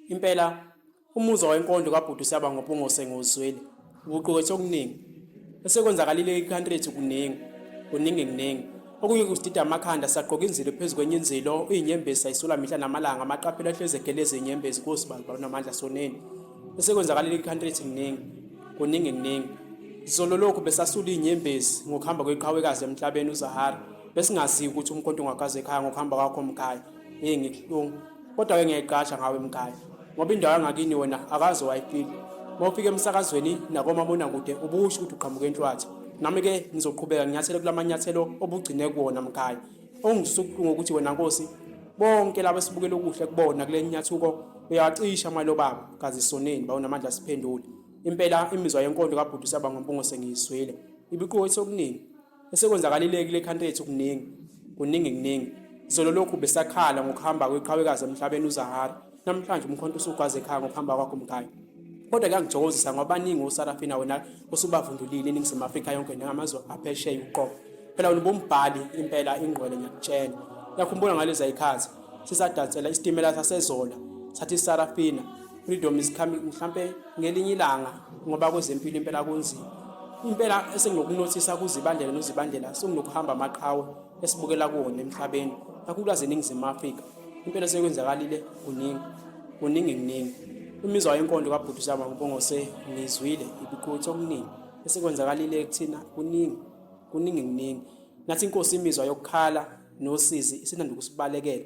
impela umuzwa wenkondlo kabhuti usiyaba ngobungose ngozweli ukuqukethe okuningi esekwenzakalile ekhantri lethu kuningi kuningi kuningi okunye kusidida amakhanda sagqoka inzilo phezu kwenye inzilo uyinyembezi sayisula mihla namalanga amaqaphela ahlezi egeleza inyembezi kosibali banamandla soneni esekwenzakalile ekhantri lethu kuningi kuningi kuningi zolo lokhu besasula inyembezi ngokuhamba kweqhawekazi emhlabeni uzahara besingazi ukuthi umkhonto ungakaze ekhaya ngokuhamba kwakho mkhaya hey ngikuhlungu kodwa ke ngiyayiqasha ngawe mkhaya ngoba indawo yangakini wena akaze wayifika uma ufika emsakazweni nakomabonakude ubusho ukuthi uqhamuke enhlwathi nami ke ngizoqhubeka nginyathele kula manyathelo obugcine kuwona mkhaya ongisukuhlungu ukuthi wena nkosi bonke laba esibukela okuhle kubona kule nyathuko uyawacisha amalo baba kazi soneni bawunamandla siphendule impela imizwa yenkonto kabhuti saba ngompungo sengiyizwile ibiqothi okuningi Esekwenzakalile kule country yethu kuningi kuningi kuningi izolo lokhu besakhala ngokuhamba kweqhawekazi emhlabeni uzahara namhlanje umkhonto usugwaza ekhaya ngokuhamba kwakho mkhaya kodwa kuyangijokuzisa ngoba baningi osarafina wena osubavundulile eningizimu afrika yonke nangamazwe aphesheya uqobo phela wena ubumbhali impela ingqwele ngiyakutshela uyakhumbula ngalezi ayikhathi sisadansela isitimela sasezola sathi isarafina freedom is coming mhlampe ngelinye ilanga ngoba kwezempilo impela kunzima impela esenginokunothisa kuzibandela nozibandela senginokuhamba amaqhawe esibukela kuwona emhlabeni kakhulukazi eningizimu afrika impela esekwenzakalile kuningi kuningi kuningi imizwa yenkondo kabhuti zama kubongose ngizwile ibikuthi okuningi esekwenzakalile kuthina kuningi kuningi kuningi nathi inkosi imizwa yokukhala nosizi isinanda ukusibalekela